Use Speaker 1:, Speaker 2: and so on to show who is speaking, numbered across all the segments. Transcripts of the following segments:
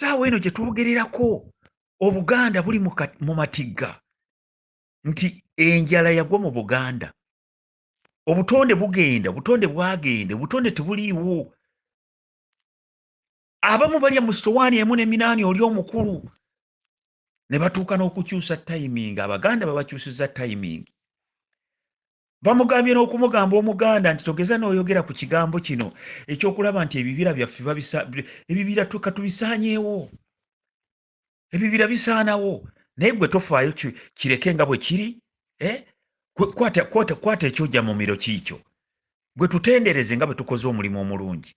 Speaker 1: saawa eno gyetwogererako obuganda buli mu matigga nti enjala yagwa mu buganda obutonde bugenda obutonde bwagende obutonde tebuliiwo abamu balya mu sitowaani emu ne minaani oli omukulu ne batuuka n'okukyusa timing abaganda babakyusiza timing bamugambye n'okumugamba omuganda nti togeza n'oyogera ku kigambo kino ekyokulaba nti ebibira byaffe ebibira tuka tubisaanyeewo ebibira bisaanawo naye gwe tofaayo kireke nga bwe kiri eh? kwata ekyoja mumiro kiikyo gwe tutendereze nga bwe tukoze omulimu omulungi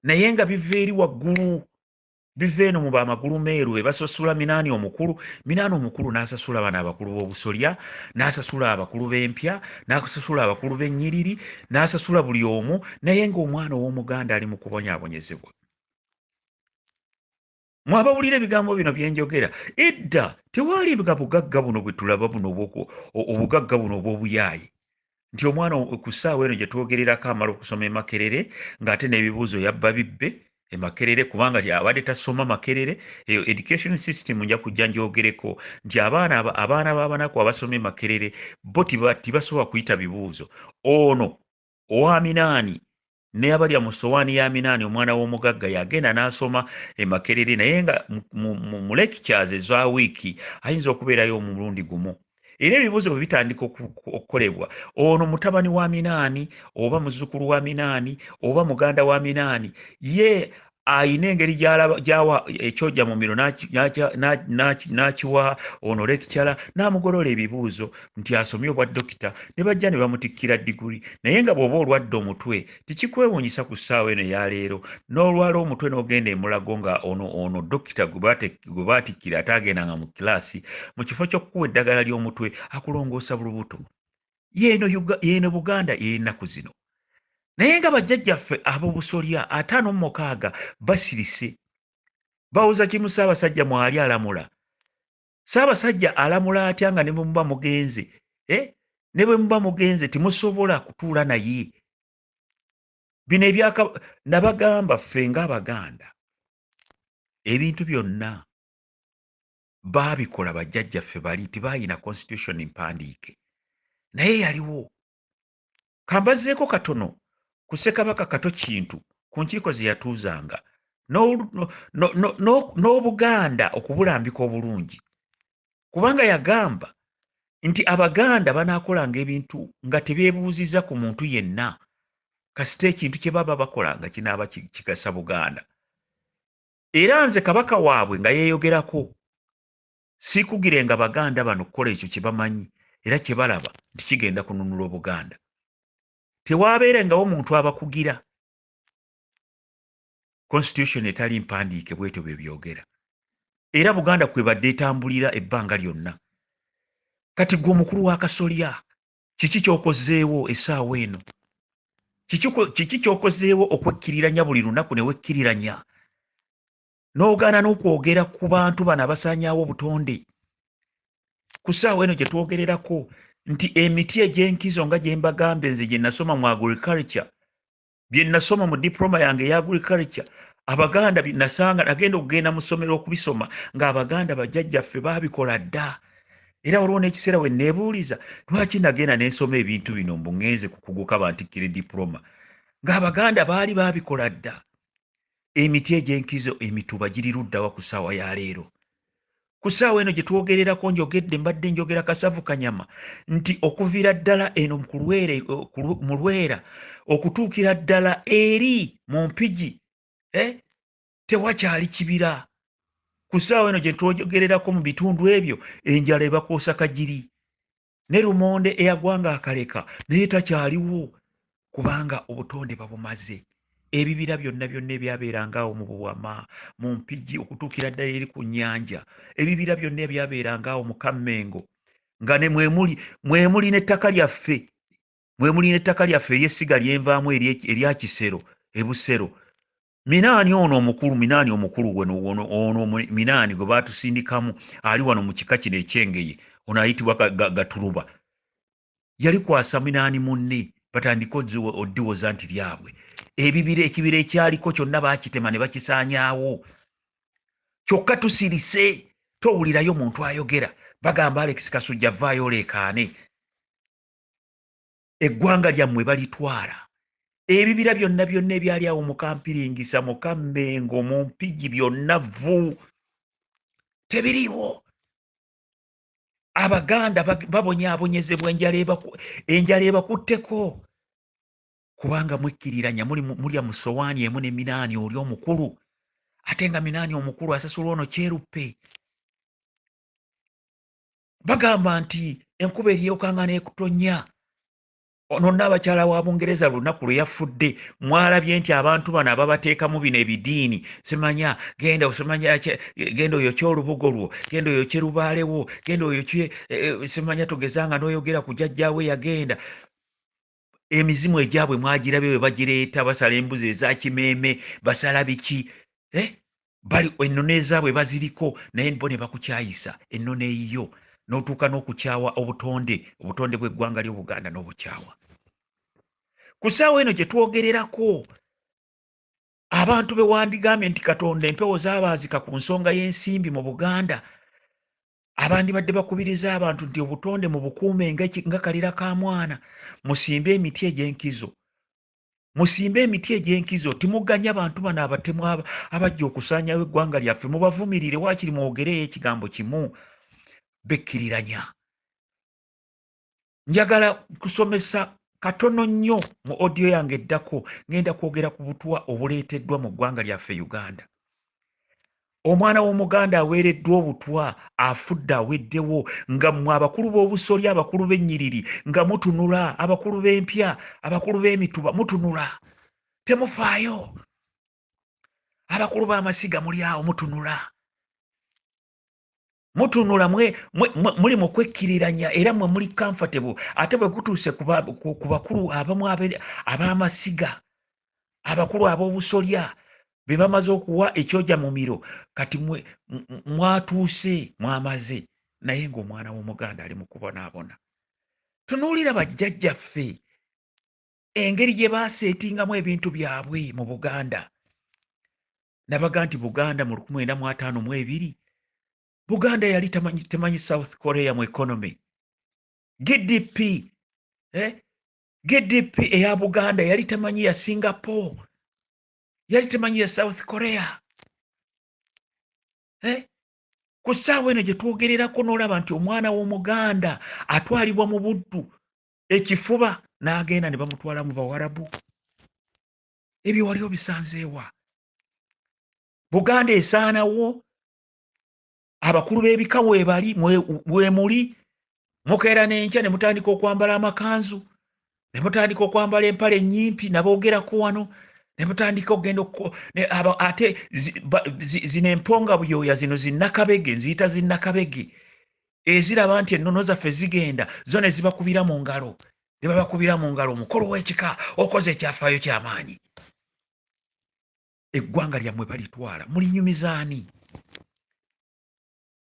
Speaker 1: naye nga biva eri waggulu biva eno mu ba magulu meeru be basasula minaani omukulu minaani omukulu n'asasula bano abakulu b'obusolya n'asasula abakulu b'empya n'asasula abakulu b'ennyiriri n'asasula buli omu naye ng'omwana ow'omuganda ali mu kubonyaabonyezebwa mwe abawulira ebigambo bino bye njogera edda tewaalibwa bugagga buno bwe tulaba buno obugagga buno obw'obuyaaye nti omwana ku ssaawa eno gye twogererako amala okusoma emakerere ng'ate n'ebibuuzo yabba bibbe emakerere kubanga abadde tasoma makerere eyo education system nja kujja njogereko nti abaana abaana b'abanaku abasoma emakerere bo tibasobola kuyita bibuuzo ono owaminaani ne abalya mu sowaani ya minaani omwana w'omugagga yagenda n'asoma e makerere naye nga mu lekicyaze eza wiiki ayinza okubeerayo omulundi gumu era ebibuuzo bwe bitandika okukolebwa ono mutabani wa minaani oba muzzukulu wa minaani oba muganda wa minaani ye ayina engeri gyawa ekyoja mu miro n'akiwa ono lekicala n'amugolola ebibuuzo nti asomye obwa dokita ne bajja ne bamutikkira diguli naye nga bw'oba olwadde omutwe tekikwewuunyisa ku ssaawa eno eyaleero n'olwala omutwe n'ogenda emulago nga ono ono dokita gwe baatikkira ataagendanga mu kilaasi mu kifo ky'okukuwa eddagala ly'omutwe akulongoosa bulubuto yeeno yeeno buganda ey'ennaku zino naye nga bajjajjaffe ab'obusolya ataano mu mukaaga basirise bawoza kimu ssaabasajja mwali alamula ssaabasajja alamula atya nga ne bwe muba mugenze e ne bwe muba mugenze temusobola kutuula naye bino ebyaka nabagamba ffe ng'abaganda ebintu byonna baabikola bajjajjaffe bali tibaayina constitution mpandiike naye yaliwo kambazeeko katono ku ssekabaka kato kintu ku nkiiko ze yatuuzanga n'obuganda okubulambika obulungi kubanga yagamba nti abaganda banaakolanga ebintu nga tebeebuuzizza ku muntu yenna kasita ekintu kye baba bakola nga kinaaba kigasa buganda era nze kabaka waabwe nga yeeyogerako siikugirenga baganda bano kukola ekyo kye bamanyi era kye balaba nti kigenda kununula obuganda tewaabeerengawo muntu abakugira constitution etali mpandiike bwetyo bye byogera era buganda kwebadde etambulira ebbanga lyonna kati gwe omukulu w'akasolya kiki kyokozeewo esaawa eno kiki kyokozeewo okwekkiriranya buli lunaku ne wekkiriranya n'ogaana n'okwogera ku bantu bano abasaanyaawo obutonde ku saawa eno gye twogererako nti emiti egy'enkizo nga gye mbagambye nze gye nasoma mu agriculture bye nasoma mu diploma yange eya agriculture abaganda nasanga nagenda okugenda mu ssomero okubisoma ng'abaganda bajjajjaffe baabikola dda era waliwo n'ekiseera we neebuuliza lwaki nagenda nensoma ebintu bino mbu ngenze ku kuguka bantikkire diploma ng'abaganda baali baabikola dda emiti egy'enkizo emituba giri luddawa ku ssaawa ya leero ku ssaawa eno gye twogererako njogedde mbadde njogera kasavu kanyama nti okuviira ddala eno mu lwera okutuukira ddala eri mu mpigi eh, tewakyali kibira ku ssaawa eno gye twogererako mu bitundu ebyo enjala ebakuusa kagiri ne lumonde eyagwanga akaleka naye takyaliwo kubanga obutonde babumaze ebibira byonna byonna ebyabeeranga awo mu buwama mu mpigi okutuukira ddala eri ku nnyanja ebibira byonna ebyabeeranga awo mu kammengo nga ne mwemuli mwemuli n'ettaka lyaffe mwemuli n'ettaka lyaffe ery'essiga lyenvaamu erya kisero ebusero minaani ono omukulu minaani omukulu ono minaani gwe baatusindikamu ali wano mu kika kino ekyengeye ono ayitibwa gatuluba yali kwasa minaani munne batandika oddiwoza nti lyabwe ebibira ekibira ekyaliko kyonna bakitema ne bakisaanyaawo kyokka tusirise towulirayo muntu ayogera bagamba alex kasujja vaayo oleekaane eggwanga lyammwe balitwala ebibira byonna byonna ebyali awo mukampiringisa mukammengo mu mpigi byonna vvu tebiriiwo abaganda babonyaabonyezebwa enjala ebakutteko kubanga mwekkiriranya mulya mu sowaani emu ne minaani oli omukulu ate nga minaani omukulu asasula ono kyeruppe bagamba nti enkuba eryokanga n'ekutonya ono naabakyala wa bungereza lunaku lwe yafudde mwalabye nti abantu bano ababateekamu bino ebidiini simanya genda osimanya genda oyokye olubugo lwo genda oyokye lubaalewo genda oyokye eh, eh, simanya togezanga n'oyogera ku jajjaawe yagenda emizimu egyabwe mwagirabye bwe bagireeta basala embuzi eza kimeeme basala biki eh? bali ennono ezaabwe baziriko naye bo ne bakukyayisa ennono eyiyo n'otuuka n'okukyawa obutonde obutonde bw'eggwanga ly'obuganda n'obukyawa ku ssaawa eno gye twogererako abantu be wandigambye nti katonda empewo zabaazika ku nsonga y'ensimbi mu buganda abandibadde bakubiriza abantu nti obutonde mu bukuume nga kalira ka mwana musimbe emiti egy'enkizo musimbe emiti egy'enkizo timuganya bantu bano abatemu abajja okusaanyawo eggwanga lyaffe mubavumirire waakiri mwogereyo ekigambo kimu bekkiriranya njagala kusomesa katono nnyo mu odiyo yange eddako ngenda kwogera ku butwa obuleeteddwa mu ggwanga lyaffe uganda omwana w'omuganda aweereddwa obutwa afudde aweddewo nga mmwe abakulu b'obusolya abakulu b'ennyiriri nga mutunula abakulu b'empya abakulu b'emituba mutunula temufaayo abakulu b'amasiga muli awo mutunula mutunula mwe, mwe, mwe, muli mu kwekkiriranya era mwe muli comfortable ate bwe kutuuse ku ba- ku ku bakulu abamu abe- ab'amasiga abakulu ab'obusolya be bamaze okuwa ekyoja mumiro kati mwe- m- m- mwatuuse mwamaze naye ng'omwana w'omuganda ali mu kubonaabona tunuulira bajjajjaffe engeri gye baaseetingamu ebintu byabwe mu buganda nabaga nti buganda mu luku mwenda mu ataano mu ebiri buganda yali temanyi, temanyi south korea mu economy gdp eh? gdp eya buganda yali temanyi ya singapore yali temanyi ya south korea eh? ku ssaawa eno gye twogererako n'olaba nti omwana w'omuganda atwalibwa mu buddu ekifuba n'agenda ne bamutwala mu bawarabu ebyo wali obisanzeewa buganda esaanawo abakulu b'ebika webali wemuli mukeera n'enkya ne mutandika okwambala amakanzu ne mutandika okwambala empale ennyimpi naboogerako wano ne mutandika okugenda ate zino emponga buyoya zino zinnakabege nziyita zinnakabege eziraba nti ennono zaffe zigenda zo ne zibakubira mu ngalo ne babakubira mu ngalo omukolo w'ekika okoze ekyafaayo ky'amaanyi eggwanga lyammwe balitwala mulinyumizaani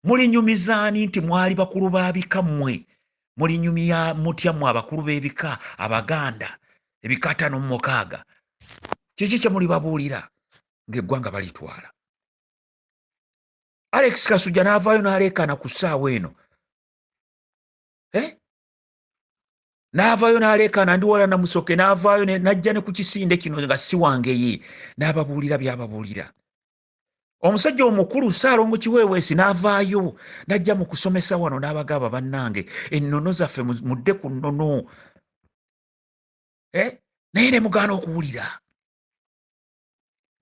Speaker 1: mulinyumizaani nti mwali bakulu ba bika mmwe mulinyumya mutya mmwe abakulu b'ebika abaganda ebika ataano mu mukaaga kiki kye mulibabuulira ng'eggwanga balitwala alex kasujja n'avaayo n'aleekaana ku ssaawa eno eh? n'avaayo n'aleekaana ndi wala namusoke n'avaayo n'ajja ne ku kisinde kino nga si wange ye n'ababuulira by'ababuulira omusajja omukulu saalongo kiweeweesi n'avaayo n'ajja mu kusomesa wano n'abagaaba bannange ennono zaffe mudde ku nnono eh? naye ne mugaana okuwulira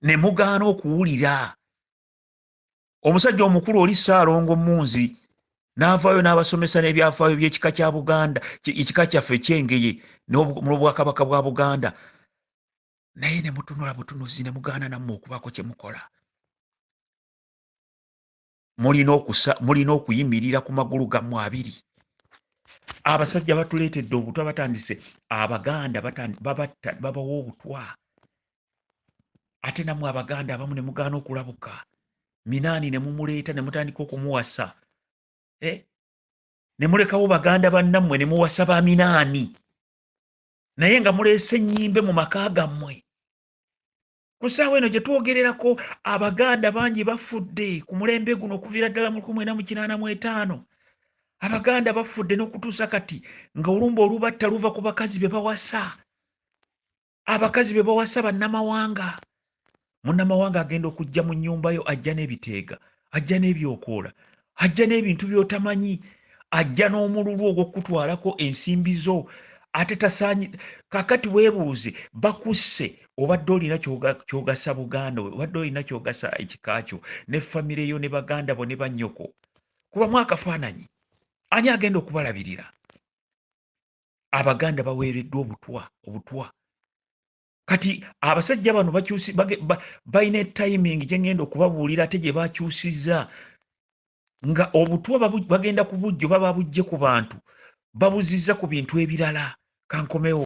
Speaker 1: ne mugaana okuwulira omusajja omukulu oli saalongo munzi n'avaayo n'abasomesa n'ebyafaayo by'ekika kya buganda ekika kyaffe ekyengeye n'obwakabaka bwa buganda naye ne mutunula butunuzi ne mugaana nammwe okubaako kye mukola mulina okusa mulina okuyimirira ku magulu gammwe abiri abasajja batuleetedde obutwa batandise abaganda babatta babawa obutwa ate namwe abaganda abamu ne mugaana okulabuka minaani ne mumuleeta ne mutandika okumuwasa eh? ne mulekawo baganda bannammwe ne muwasa ba minaani naye nga muleese ennyimbe mu maka gammwe ku ssaawa eno gye twogererako abaganda bangi bafudde ku mulembe guno okuviira ddala mu lukumi mwenda mu kinaana mu etaano abaganda bafudde n'okutuusa kati nga olumba olubatta luva ku bakazi be bawasa abakazi be bawasa bannamawanga munnamawanga agenda okujja mu nnyumba yo ajja n'ebiteega ajja n'ebyokoola ajja n'ebintu by'otamanyi ajja n'omululu ogw'okukutwalako ensimbi zo ate tasaanyi kakati weebuuze bakusse obadde olina kyogasa buganda obadde olina kyogasa ekika kyo ne famire yo ne baganda bo ne bannyoko kubamu akafaananyi ani agenda okubalabirira abaganda baweereddwa obutwa obutwa kati abasajja bano bakyusi balina etiming gyengenda okubabuulira ate gye bakyusiza nga obutwa bagenda kubujjo baba bujje ku bantu babuziza ku bintu ebirala kankomewo